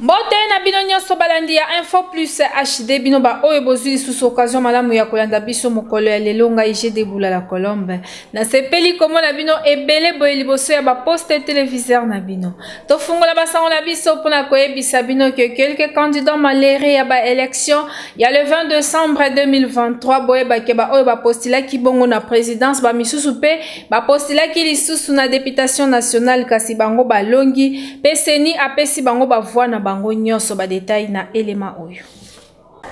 Mbote na bino nionso balandi ya info plus HD bino ba oyo bozui lisusu occasion malamu ya kolanda biso mokolo ya lelo ngai je deboula la colombe na sepeli komona bino ebele boye liboso ya ba poste televiseur na bino tofungola basango na biso mpona koyebisa bino ke quelques candidats malere ya ba election ya le 20 decembre 2023 boyebake ba oyo bapostila kibongo na presidence ba misusu mpe Ba postulaki lisusu na deputation nationale kasi bango balongi pe CENI apesi bango ba voix na bango nionso. Ba details na elema oyo.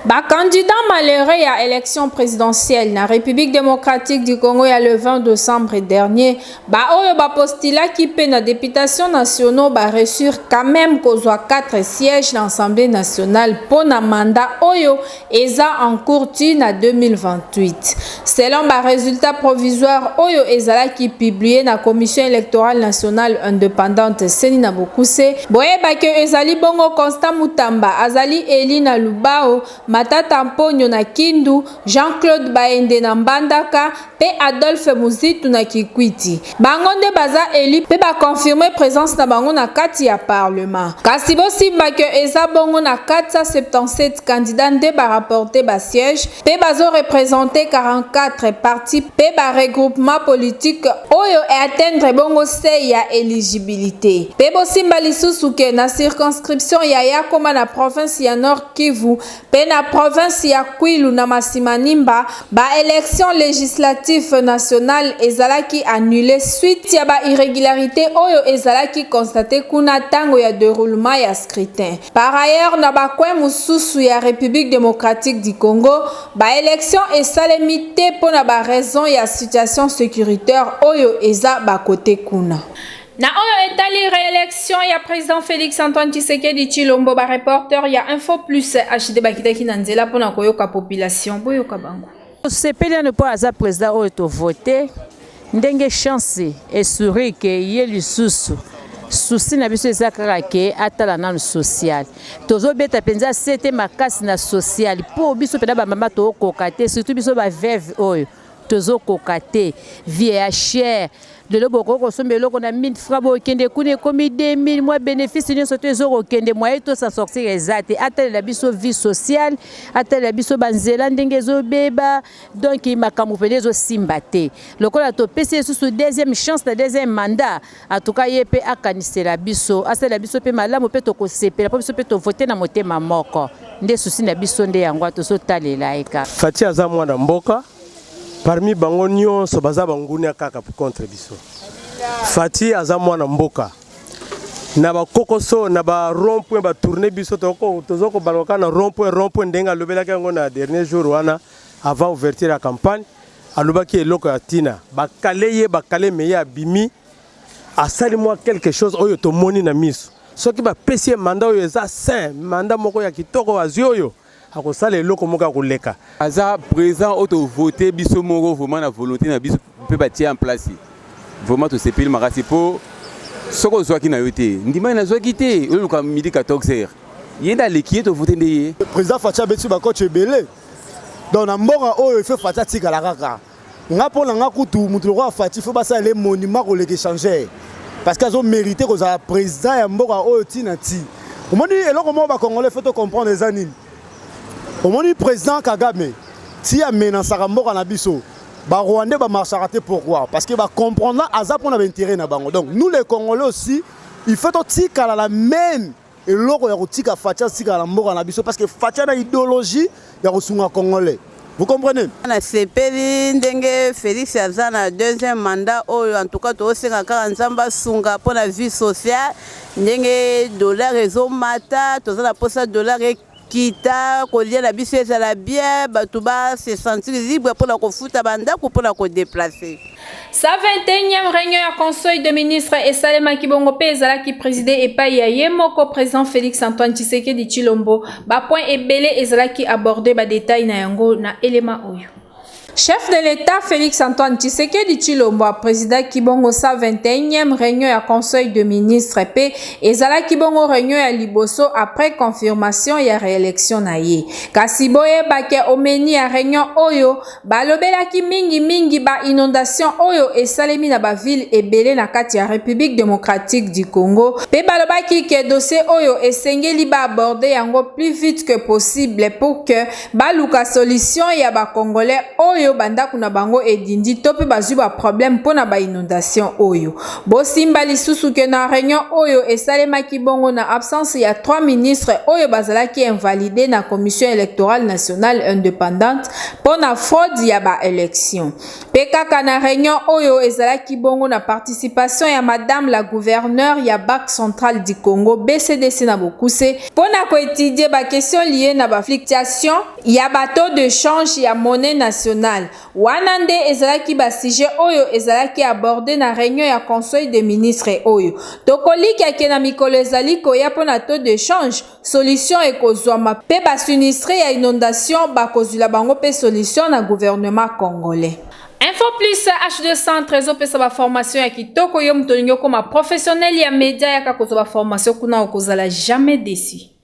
Ba candidats malheureux ya election presidentielle na Republique democratique du Congo ya le 20 decembre dernier, ba oyo ba postulaki pe na deputation nationaux ba reussir quand meme kozwa 4 sièges na Assemblée nationale po na mandat oyo eza en cours ti na 2028 selon ba resultats provisoires oyo ezalaki publier na Commission electorale nationale independante, ceni, na bokuse. Boyeba que ezali bongo Constant Mutamba azali elu na Lubao, Matata Mponyo na Kindu, Jean-Claude Baende na Mbandaka, pe Adolphe Muzitu na Kikwiti. Bango nde baza elus pe ba confirmer presence na bango na kati ya parlement. Kasi bo simba que eza bongo na 477 candidats nde ba rapporter ba sieges pe bazo representer 44 partis pe ba regroupements politiques oyo e atteindre bongo seuil ya eligibilite. Pe bo simba lisusu que na circonscription ya Yakoma na province ya Nord-Kivu, mpe na province ya Kwilu na Masimanimba, ba elections legislatives nationales ezalaki annuler suite ya ba irregularites oyo ezalaki constater kuna tango ya deroulement ya scrutin. Par ailleurs, na ba coins mosusu ya Republique democratique du Congo, ba elections esalemi te mpo na ba raisons ya situation securitaire oyo eza ba cote kuna. Na oyo etali reelection ya president Felix Antoine Tshisekedi Tshilombo, ba reporter ya Info Plus HD bakitaki na nzela mpo na koyoka population. Boyoka bango. Tosepeli ano mpo aza president oyo tovote ndenge chance esuri ke ye lisusu susi na biso eza kaka ke atala nanu social tozobeta mpenza sete makasi na social mpo biso mpenza bamama tookoka te surtout biso baveve oyo tozo koka te vie ya cher lelo bokoki kosomba eloko na 1000 francs bokende kuna ekomi 2000 mwa bénéfice nyonso to ezokokende moye to s'en sortir eza te atalela biso vie sociale atalela biso banzela ndenge ezobeba donc makambo mpenza ezosimba te lokola topesi lisusu deuxième chance na deuxième mandat En tout cas ye pe akanisela biso, asalela biso pe malamu pe tokosepela po biso pe to voter na motema moko. Nde souci na biso nde yango wana tozo talela ye kaka. Fatshi aza mwana mboka, parmi bango nionso baza ba ngunia kaka contre biso. Fatshi aza mwana mboka. Na ba kokoso, na ba rond point ba tourner biso toko tozo ko balwa kaka na rond point rond point ndenge alobelaki yango na dernier jour wana avant ouverture ya campagne. alobaki eloko ya tina bakale ye bakale meye abimi asali mwa quelque chose oyo tomoni na miso soki bapesi ye manda oyo eza sain manda moko ya kitoko azwi oyo akosala eloko moko ya koleka aza présent oyo tovote biso moko vraiment na volonté na biso mpe batie en place vraiment tosepeli makasi mpo soki ozwaki na yo te ndimani nazwaki te oluka midi 14 heures ye nde aleki ye tovote nde ye président faci abeti bacoach ebele Donc na mboka oyo il faut Fatshi atikala kaka. Nga mpo na nga kutu moto lokola Fatshi faut basala ye monument koleka échangeur parce que azo mérite kozala président ya mboka oyo ti na ti. Omoni eloko moko ba Congolais faut to comprendre eza nini? Omoni président Kagame ti amenasaka mboka na biso ba Rwandais ba marchaka te pourquoi? Parce que ba comprendre aza mpo na ba intérêt na bango. Donc nous les Congolais aussi il faut totikala la même eloko ya kotika Fatshi atikala na mboka na biso parce que Fatshi na ideologie ya kosunga congolais vous comprenez nasepeli ndenge Felix aza na deuxième mandat oyo en tout cas tosenga kaka nzambe asunga mpo na vie sociale ndenge dollar ezomata toza na mposa dollar Kita kolia na biso ezala bien, batu ba se sentir libre mpo na kofuta ba ndako mpo na ko deplacer. Sa 21e reunion ya Conseil de ministre esalemaki bongo mpe ezalaki preside epai ya ye moko president Felix Antoine Tshisekedi Tshilombo. Ba points ebele ezalaki aborde ba details na yango na elema oyo. Chef de l'Etat Felix Antoine Tshisekedi Tshilombo a presidaki bongo 121e reunion ya Conseil de ministre pe ezalaki bongo reunion ya liboso après confirmation ya reelection na ye. Kasi boyeba ke au menu ya reunion oyo balobelaki mingi mingi ba inondations oyo esalemi na ba villes ebele na kati ya Republique democratique du Congo pe balobaki ke dossier oyo esengeli ba aborder yango plus vite que possible pour que Baluka solution ya ba congolais oyo ba ndaku na bango edindi to pe bazui ba problème pona ba inondation oyo. Bosimba lisusu que na reunion oyo esalemaki bongo na absence ya trois ministres oyo bazalaki invalides na Commission electorale nationale independante pona fraude ya ba elections. Pe kaka na reunion oyo ezalaki bongo na participation ya madame la gouverneure ya Banque centrale du Congo, BCDC na bokuse, mpo na ko etudier ba questions liees na ba fluctuations ya ba taux de change ya monnaie nationale. Wana nde ezalaki ba sujets oyo ezalaki aborder na reunion ya Conseil des ministres oyo. Tokolikia ke na mikolo ezali koya mpo na taux de change, solution ekozwama pe ba sinistres ya inondation bakozwila bango pe solution na gouvernement congolais. Info Plus HD Centre ezopesa ba formation ya kitoko yo moto olingi okoma professionnel ya media yaka kozwa ba formation kuna okozala jamais déçu.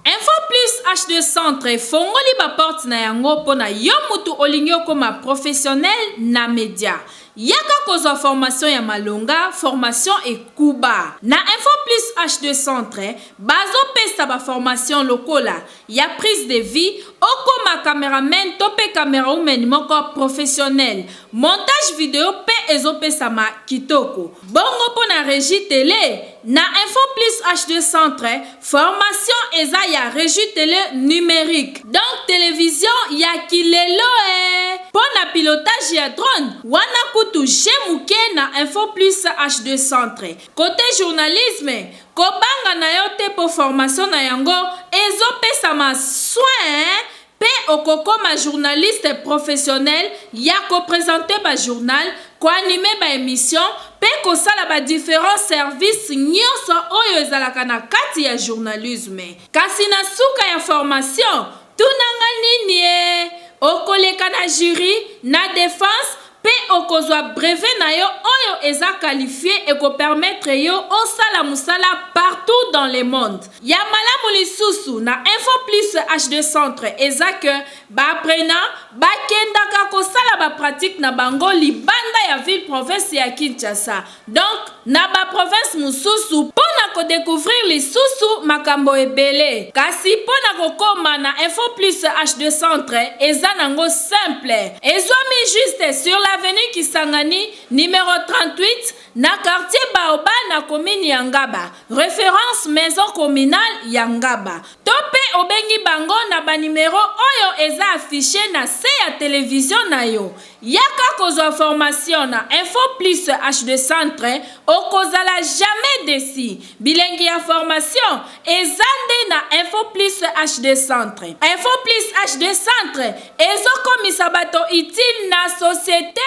Info Plus HD Centre efongoli ba porte na yango mpo na yo moto olingi okoma professionnel na media. Yaka kozwa formation ya malonga, formation ekuba. Na Info Plus HD Centre, bazo pesa ba formation lokola, ya prise de vue, okoma cameraman to pe camerawoman moko professionnel. Montage video pe ezo pesama kitoko. Bongo pona regie tele? Na info plus HD centre formation eza ya regie tele numerique donc television ya ki lelo ee pona pilotage ya drone wana kutu jeu muke na info plus HD centre cote journalisme kobanga nayo te po formation na yango ezo pesama soin Pe okokoma journaliste professionnel ya ko presenter ba journal, ko animer ba emissions pe kosala ba differents services nionso oyo ezalaka na kati ya journalisme. Kasi na suka ya formation, tuna nga niniee, okoleka na jury, na defense, Pe okozwa brevet na yo oyo eza qualifie e ko permettre yo osala musala partout dans le monde. Ya malamu lisusu na Info Plus HD Centre eza que ba apprenants ba kendaka kosala ba pratiques na bango libanda ya ville-province ya Kinshasa. Donc na ba provinces mosusu mpo na ko decouvrir lisusu makambo ebele. Kasi mpo na kokoma na Info Plus HD Centre eza nango simple. Ezwami juste sur l'avenue Kisangani numero 38 na quartier Baobab na commune ya Ngaba, reference maison communale ya Ngaba. To mpe obengi bango na ba numeros oyo eza affiches na se ya television na yo. Yaka kozwa formation na info plus HD centre okozala jamais deçu bilengi ya formation eza nde na info plus HD centre info plus HD centre ezo komisa bato utile na societe.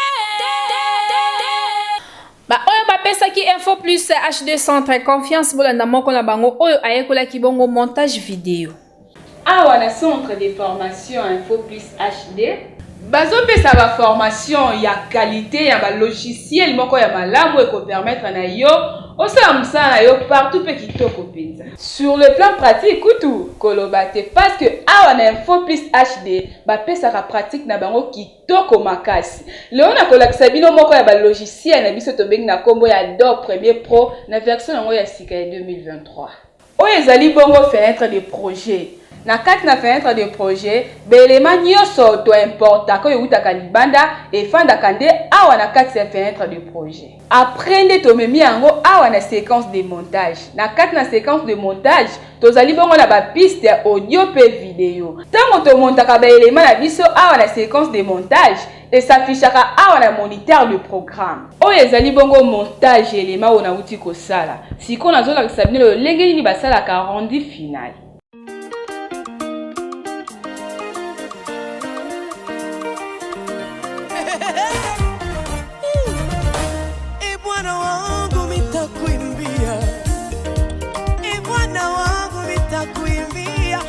Ba oyo ba pesaki info plus HD centre confiance bolanda moko na bango oyo ayekolaki bongo montage video. Awa na Centre de formation Info Plus HD, bazo pesa ba formations ya qualite ya ba logiciels moko ya malamu eko permettre na yo osala musala na yo partout pe kitoko penza. Sur le plan pratique kutu koloba te parce que awa na Info Plus HD ba pesaka pratique na bango kitoko makasi. Lelo nako lakisa bino moko ya ba logiciels na biso tobengi na kombo ya Adobe Premiere Pro na version na yango ya sika ya 2023. Oyo ezali bongo fenetre de projet. Na kati na fenetre de projet, ba elements nionso to importaka oyo ewutaka libanda efandaka nde awa na kati ya fenetre de projet. Après nde tomemi yango awa na sequence de montage. Na kati na sequence de montage, tozali bongo na ba pistes ya audio mpe video. Tango to montaka ba elements na biso awa na sequence de montage, E s'affichaka awa na moniteur de programme. Oyo ezali bongo montage ya elema oyo nawuti kosala. Sikoyo nazolakisa bino lolenge nini basalaka rendu final.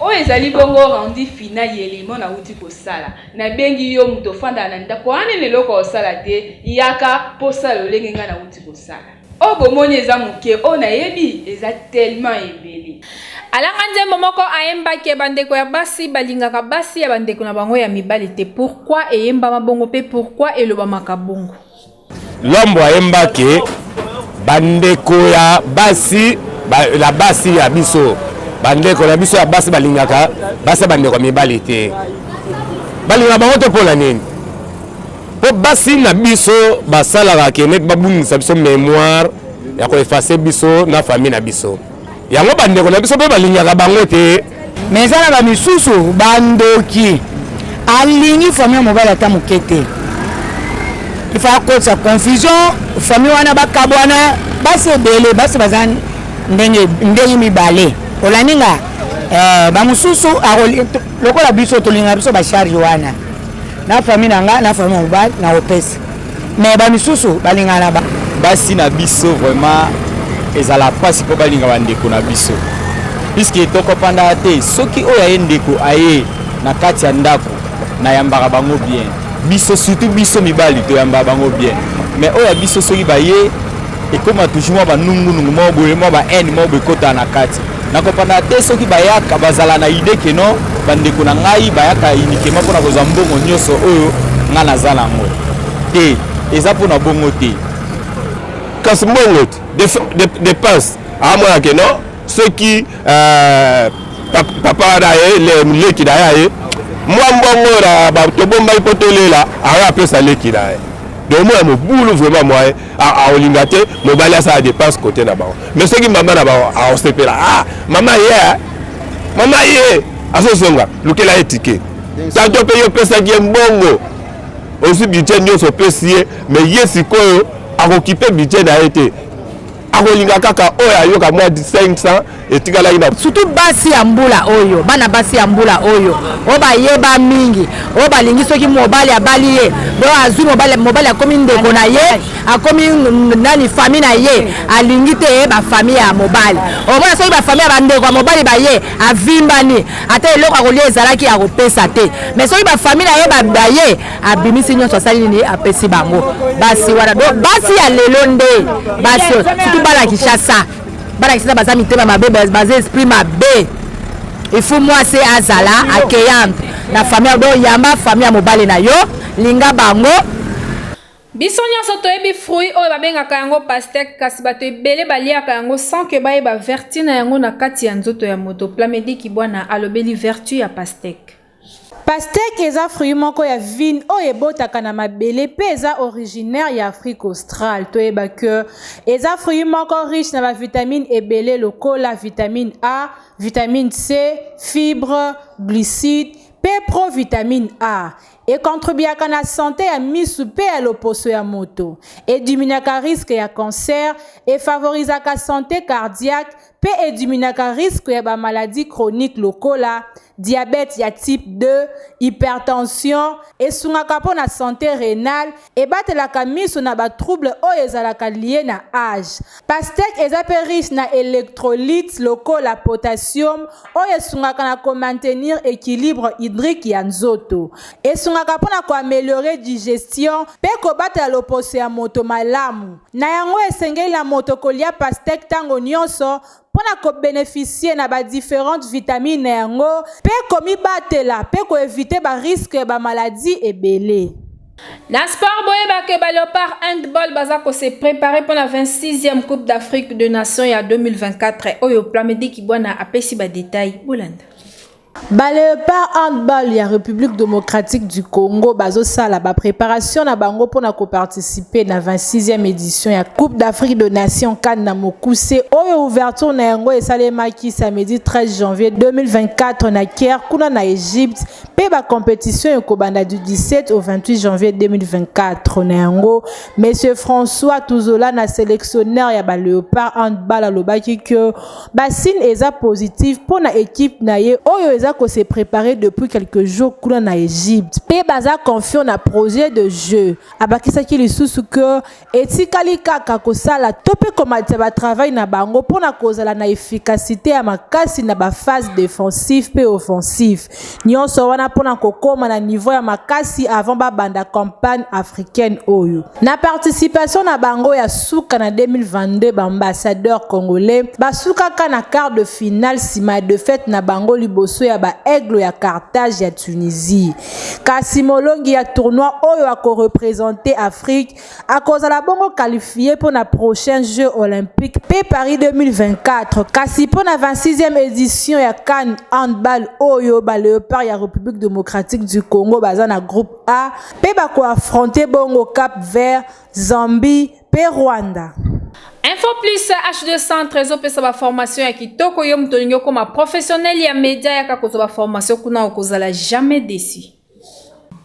Oyo ezali bongo rendu final ya elimo nawuti kosala. Nabengi yo moto ofandaka na ndako wana nanu eloko ya kosala te, yaka mpo osala lolenge ngai nawuti kosala. Oyo bomoni eza moke, oyo nayebi eza tellement ebele. Alanga nzembo moko ayemba ke bandeko ya basi balingaka basi ya bandeko na bango ya mibali te. Pourquoi eyembama bongo mpe pourquoi elobamaka bongo? Lombo ayemba ke bandeko ya basi ba, la basi ya biso bandeko na biso ya basi balingaka basi ya bandeko ya mibali te balingaka bango te mpo na nini mpo basi na biso basalaka ke neti babungisa biso memoire ya koefase biso na famille na biso yango bandeko na biso mpe balingaka bango te me eza na bamisusu bandoki alingi famille ya mobali ata moke te ifa akotisa confusion famille wana bakabwana basi ebele basi baza ndenge ndenge mibale olandi nga eh, bamosusu lokola biso tolinga biso bacharge wana na famille na nga na famille ya mobali nakopesa mais ba misusu balingana na ba basi na biso vraiment ezala pasi mpo balinga bandeko na biso puiske tokopandaka te soki oyo aye ndeko aye na kati ya ndako nayambaka bango bien biso surtout biso mibali toyambaka bango bien mais oyo ya biso soki baye ekoma toujours mwa banungunungu moko boye mwa bahaine moko boye ekotaka na kati nakopanda te soki bayaka bazala na idee ke non bandeko na ngai bayaka uniquement mpo na kozwa mbongo nyonso oyo ngai naza na yango te eza mpo na bongo te kasi mbongo te depense amona ke non soki euh, papa wana ye leki na ye aye mwa mbongo oyo tobombaki mpo tolela ayo apesa leki na ye donc omona mobulu vraiment mwaye aolinga te mobali asala depense kote na bango me soki mama na bango aosepela ah, mama ye eh. mama ye eh. azozonga lukela ye tike tanto mpe yo opesaki ye mbongo ozwi budget nyonso opesi ye me ye sikoyo akokipe budget na ye te akolinga kaka oyo ayoka mwa 500 etikalaki na surtout basi ya mbula oyo bana basi ya mbula oyo oyo bayeba mingi oyo balingi soki mobali abali ye donc azwi mobali mobali akomi ndeko na ye akomi nani famille na ye alingi te ye bafamille ya mobali omona soki bafamille ya bandeko ya mobali baye avimbani ata eloko ya kolia ezalaki ya kopesa te mais soki bafamille na ye baye abimisi nyonso asali nini apesi bango basi wana donc basi ya lelo nde basi surtout bana kishasa bana kisasa baza mitema mabe baza esprit mabe il faut mwasi azala accueillante na famille do yamba famille ya mobali na yo linga bango biso nyonso toyebi fruit oyo babengaka yango pastèque kasi bato ebele baliaka yango sans ke bayeba vertu na yango na kati ya nzoto ya moto plamedi kibwana alobeli vertu ya pastèque Pastèque eza fruit moko ya vigne oyo ebotaka na mabele pe eza originaire ya Afrique australe. Toyeba que eza fruit moko riche na ba vitamines ebele lokola vitamine A, vitamine C, fibre, glucides pe provitamine A. E contribuaka na sante ya misu pe ya loposo ya moto. E diminuaka risque ya cancer, e favorisaka sante cardiaque, mpe ediminaka risque ya ba maladies chroniques lokola, diabète ya type 2, hypertension, esungaka mpo na sante renale, ebatelaka miso na ba troubles oyo ezalaka lies na age. Pastèque eza mpe riche na electrolytes lokola potassium oyo esungaka na ko maintenir equilibre hydrique ya nzoto. Esungaka mpo na ko ameliorer digestion mpe kobatela loposo ya moto malamu. Na yango esengeli na moto kolia pastèque tango nionso mpo na ko beneficier na ba differentes vitamines na yango mpe komibatela mpe ko eviter ba risques ya ba maladies ebele. Na sport boyeba que ba Leopards Handball baza ko se preparer mpo na 26ème Coupe d'Afrique des Nations ya 2024 oyo Plamedy Kibwana apesi ba details. Bolanda. Ba Leopards Handball ya Republique Democratique du Congo bazosala ba preparation na bango pona ko participer na 26e edition ya Coupe d'Afrique de Nations CAN na mokuse oyo ouverture na yango esalemaki samedi 13 janvier 2024 na Caire kuna na Egypte pe ba competition ekobanda du 17 au 28 janvier 2024 na yango Monsieur François Tuzola na selectionneur ya ba Leopards Handball alobaki que Ba signe eza positif pona equipe na ye oyo eza ko se preparer depuis quelques jours kuna na Egypte pe baza confiant na projet de jeu. Abakisaki lisusu que etikali kaka kosala to pe komatisa ba travail na bango pona kozala na efficacite ya makasi na ba phases defensif pe offensif. Nionso wana pona kokoma na niveau ya makasi avant ba banda campagne africaine oyo. Na participation na bango ya suka na 2022 ba ambassadeurs congolais basukaka na quart de finale sima ya defaite na bango liboso ya ba Aigles ya Carthage ya Tunisie. Kasi molongi ya tournoi oyo ako representer Afrique Akozala bongo qualifie mpo na prochain Jeux olympiques mpe Paris 2024 kasi mpo na 26e edition ya CAN handball oyo ba Leopards ya Republique democratique du Congo baza na groupe A mpe bako affronter bongo Cap Vert, Zambie mpe Rwanda. Info Plus HD Centre ezopesa ba formation ya kitoko yo moto olingi okoma professionnel ya media yaka kozwa ba formation kuna okozala jamais déçu.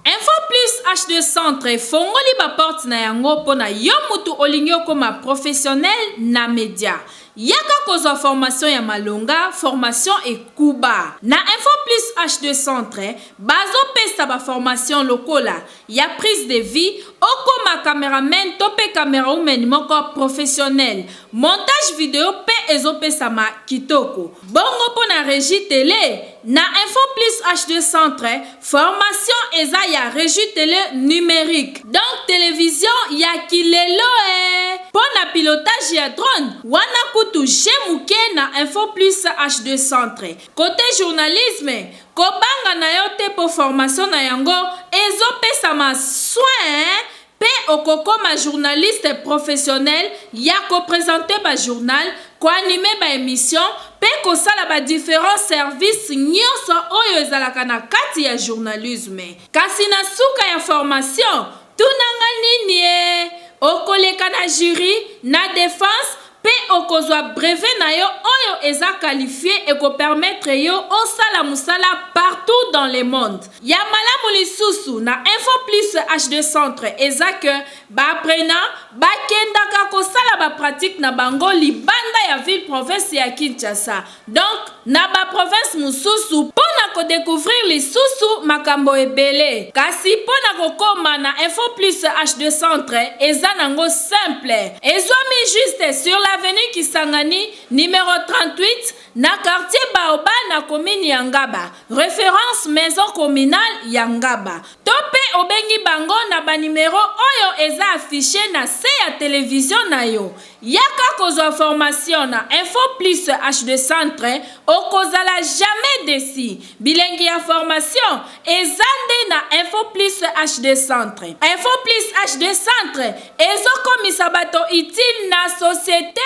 Info plus HD centre efongoli ba porte na yango mpo na yo mutu olingi okoma professionnel na media. Yaka kozwa formation ya malonga, formation ekuba. Na Info plus HD centre, bazo pesa ba formation lokola, ya prise de vue, okoma cameraman to pe camerawoman moko professionnel. Montage video pe ezo pesama kitoko. Bongo pona regie tele? Na info plus HD centre formation eza ya regie tele numerique donc television ya ki lelo ee pona pilotage ya drone wana kutu je muke na info plus HD centre cote journalisme kobanga nayo te po formation na yango ezo pesama soin Pe okokoma journaliste professionnel ya ko presenter ba journal, ko animer ba emissions pe kosala ba differents services nionso oyo ezalaka na kati ya journalisme. Kasi na suka ya formation, tuna nga niniee, okoleka na jury, na defense, Pe okozwa brevet na yo oyo eza qualifie e ko permettre yo osala musala partout dans le monde. Ya malamu lisusu na Info Plus HD Centre eza que ba apprenants ba kendaka kosala ba pratiques na bango libanda ya ville-province ya Kinshasa. Donc na ba provinces mosusu mpo na ko decouvrir lisusu makambo ebele. Kasi mpo na kokoma na Info Plus HD Centre eza nango simple. Ezwami juste sur l'avenue Kisangani numero 38 na quartier Baobab na commune ya Ngaba, reference maison communale ya Ngaba. To mpe obengi bango na ba numeros oyo eza affiches na se ya television na yo. Yaka kozwa formation na info plus HD centre okozala jamais deçu bilengi ya formation eza nde na info plus HD centre info plus HD centre ezo komisa bato utile na societe.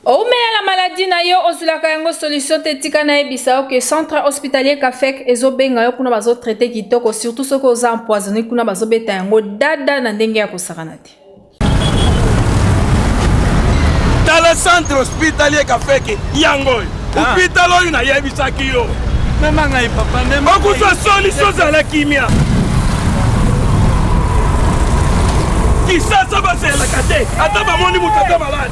Owumela na maladie na yo ozulaka yango solution te tika nayebisa yo ke centre hospitalier Kafek ezobenga yo kuna bazo traite kitoko surtout soki oza empoisonné kuna bazobeta yango dada na ndenge ya kosakana te. Tala centre hospitalier Kafek yango oyo ah. hopital oyo nayebisaki yo mema ngai papa okuzwa solution zala kimia kisasa bazelaka te ata bamoni moto ata malade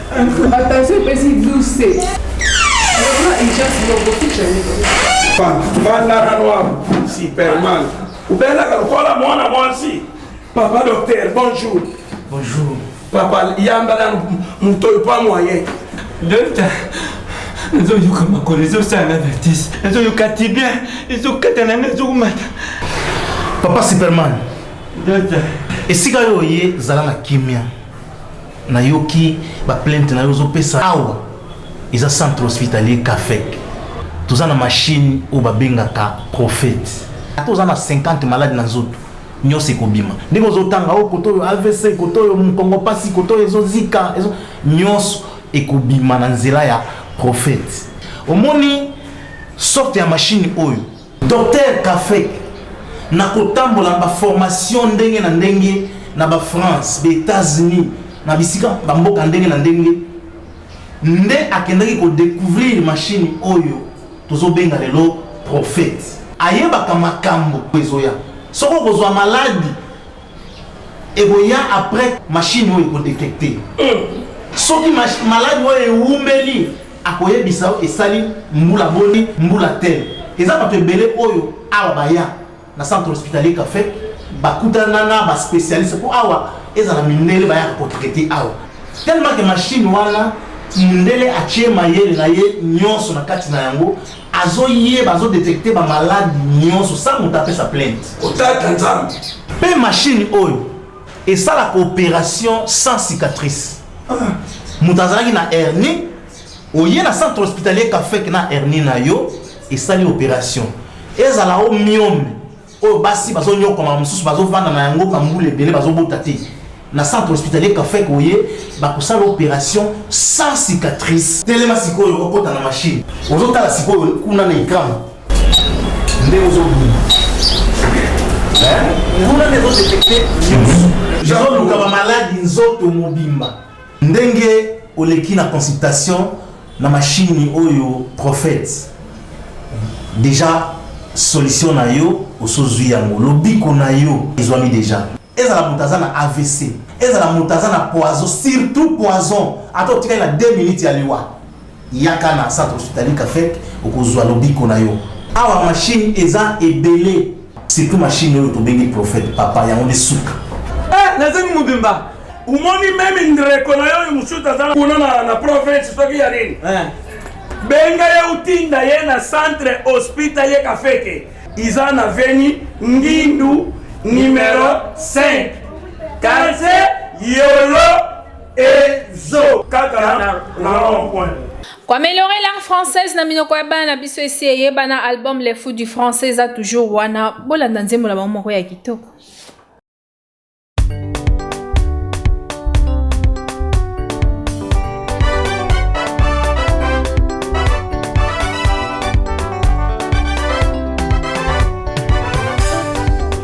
Attention epesi 12 se. Bandana noir, Superman. Ubelaka lokola mwana mwasi. Papa docteur, bonjour. Bonjour. Papa yamba na moto oyo pa moyen. Docteur. ezoyoka makolo ezosala na vertise ezoyoka tibia ezokata na ngai ezokumata papa superman esika yo oye zala na kimia Nayoki ba plainte nayo ozo pesa awa eza centre hospitalier Cafec. Toza na machine oyo ba bengaka prophète. Ata oza na 50 malade na nzoto nionso ekobima. Ndenge ozo tanga o koto oyo avc, koto oyo mukongo pasi, koto oyo ezo zika, ezo nionso ekobima na nzela ya prophète. Omoni sorte ya machine oyo? Docteur Kafek, na kotambola ba formation ndenge na ndenge na ba France, ba Etats-Unis, na bisika ba mboka ndenge na ndenge, nde akendaki ko découvrir machine oyo tozo benga lelo prophète. Ayebaka makambo ezoya. Soki okozwa maladi ekoya après machine oyo ekodetecte soki maladi oyo ewumeli akoyebisa yo esali mbula boni mbula te eza bato ebele oyo awa baya na centre hospitalier café bakutana na baspecialiste mpo awa ezala mindele bayaka kotraite awa tellement ke machine wana mundele atie mayele na ye nyonso na kati na yango Azo yeba azo detecter ba malades nionso sans moto apesa plainte. Otata nzambe. Pe machine oyo esalaka operation sans cicatrice. Ah. Moto azalaki na hernie oye na centre hospitalier kafek na hernie na yo esali operation ezala o myome oyo basi bazonyokwama mosusu bazovanda na yango bambula ebele bazobota te na centre hospitalier kafek oye bakosala opération sans cicatrice telema sikoyo okota na machine ozotala sikoyo kuna na ekran nde ozobima kuna nde ezodetekte nyonso ezoluka bamaladi nzoto mobimba Ndenge oleki na consultation na machine oyo prophète deja solution na yo osozwi yango lobiko na yo ezwami deja ezala moto aza na avc ezala moto aza na poison surtout poison ata otikali na 2 minutes ya liwa Yaka na centre hospitalier Cafec okozua lobiko na yo. Awa machine eza ebele. Surtout machine oyo tobengi prophète papa yango nde suka. Eh nazangi mobimba. Omoni meme ndreko na yo oyo mosusu aza kuna na, na province soki ya nini eh. benga ye otinda ye na centre hospitalier kafeke iza na veni ngindu numero 5 quartier yolo ezo kaka na rond point koameliore langue française na minoko ya bana na biso esi eyebana album le fou du français eza toujours wana bolanda nzembo na bango moko ya kitoko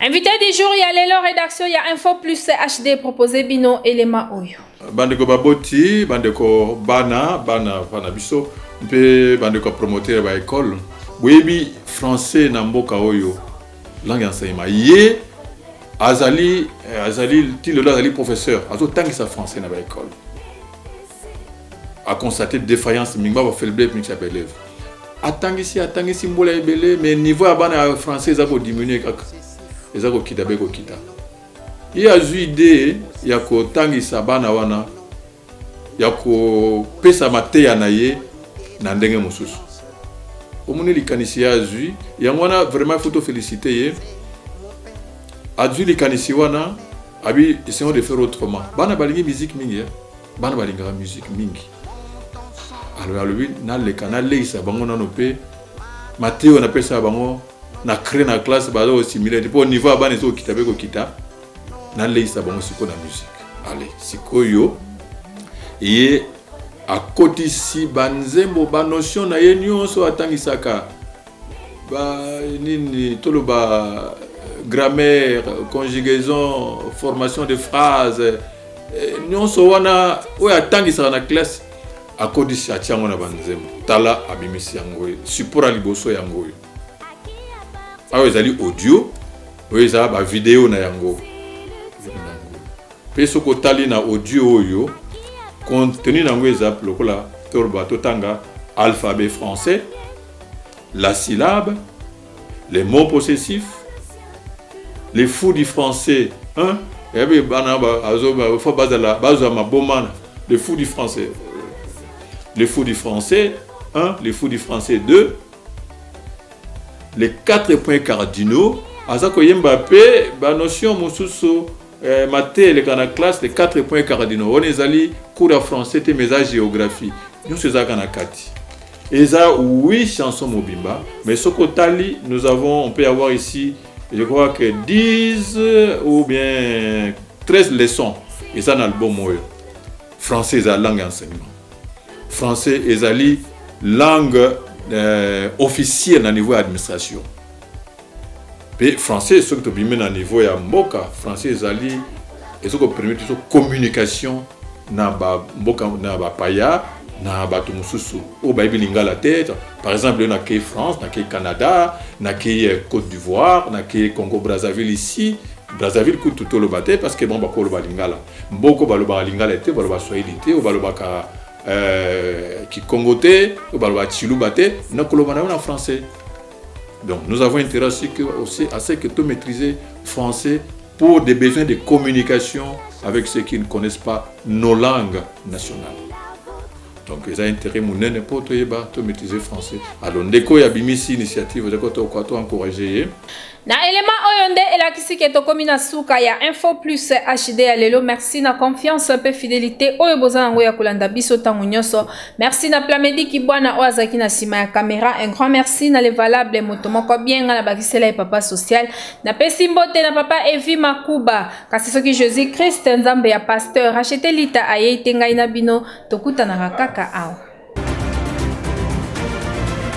Invité du jour, il y a Lelo Rédaction, il y a Info Plus HD proposé Bino et les Maoyo. Bandeko Baboti, Bandeko Bana, Bana, Bana Bisso, mpe bandeko ya promoteur ba ekole boyebi français na mboka oyo langue ya enseignement ye azali eh, azali ti lelo azali professeur azotangisa français na baekole a constate defaillance mingi ba faible mix ya belève atangisi atangisi mbula ebele mais niveau ya bana ya français eza kodiminue kaka eza kokita mpe kokita ye azwi idee ya kotangisa bana wana ya kopesa mateya na ye na ndenge mosusu omoni likanisi ye azwi yango wana vraiment faut tofelicite ye azwi likanisi wana abi esengo de faire autrement bana balingi miziki mingi eh? bana balingaka musique mingi alobi alobi naleka naleisa bango nano mpe mateyo napesa bango na cré na classe baza kosimile te mpo niveau ya bana ezokokita mpe kokita naleisa bango sikoyo na musique ale sikoyo ye akotisi banzembo banotion na ye nyonso atangisaka ba nini toloba grammaire conjugaison formation de phrase eh, nyonso wana oyo atangisaka na classe akodisi atia yango na banzembo tala abimisi yango oyo support ya liboso yango oyo awa ezali audio oyo eza bavideo na yango mpe soki otali na audio oyo contenu na yango eza lokola toloba totanga alphabet français la syllabe, les mots possessifs, les fous du français, hein? ebi eh bana faut bazala bazwa maboma les fous du français les fous du français 1 les fous du français 2 les quatre points cardinaux aza koyemba mpe banotion mosusu Eh, mate eleka na classe les 4 points cardinaux wana ezali cours ya français te mais eza géographie nyonso ezalaka na kati eza oui chanson mobimba mais soki otali nous avons on peut avoir ici je crois que 10 ou bien 13 leçons eza na album oyo français eza langue ya enseignement français ezali langue euh, officielle na niveau ya administration mpe français soki tobimi na niveau ya mboka français ezali ezo ko permettre biso communication na ba mboka na ba paya na bato mosusu oyo bayebi lingala te par exemple yo nakei france nakei canada nakei euh, côte d'ivoire nakei congo brazzaville ici brazzaville kutu toloba te parce que bango bakoloba lingala mboko balobaka lingala te baloba swahili te oyo balobaka euh, kikongo te oyo balobaka chiluba te nakoloba na yo na français Donc nous avons intérêt à ce que, aussi, à ce que tout maîtriser français pour des besoins de communication avec ceux qui ne connaissent pas nos langues nationales. Donc ils ont intérêt munene pour tout yeba tout maîtriser français. Alors ndeko ya bimisi initiative de koto kwa to encourager. Na element oyo nde elakisi ke tokomi na suka ya Info Plus HD ya lelo. Merci na confiance pe fidélité oyo bozana ngo ya kolanda biso tango nyoso. Merci na Plamedi Kibwana oyo azalaki na sima ya camera. Un grand merci na le valable moto moko bien nga na bakisela ye papa social. Na pesi mbote na papa Evi Makuba. Kasi soki Jésus Christ nzambe ya pasteur achete lita ayei te ngai na bino tokutanaka kaka awa.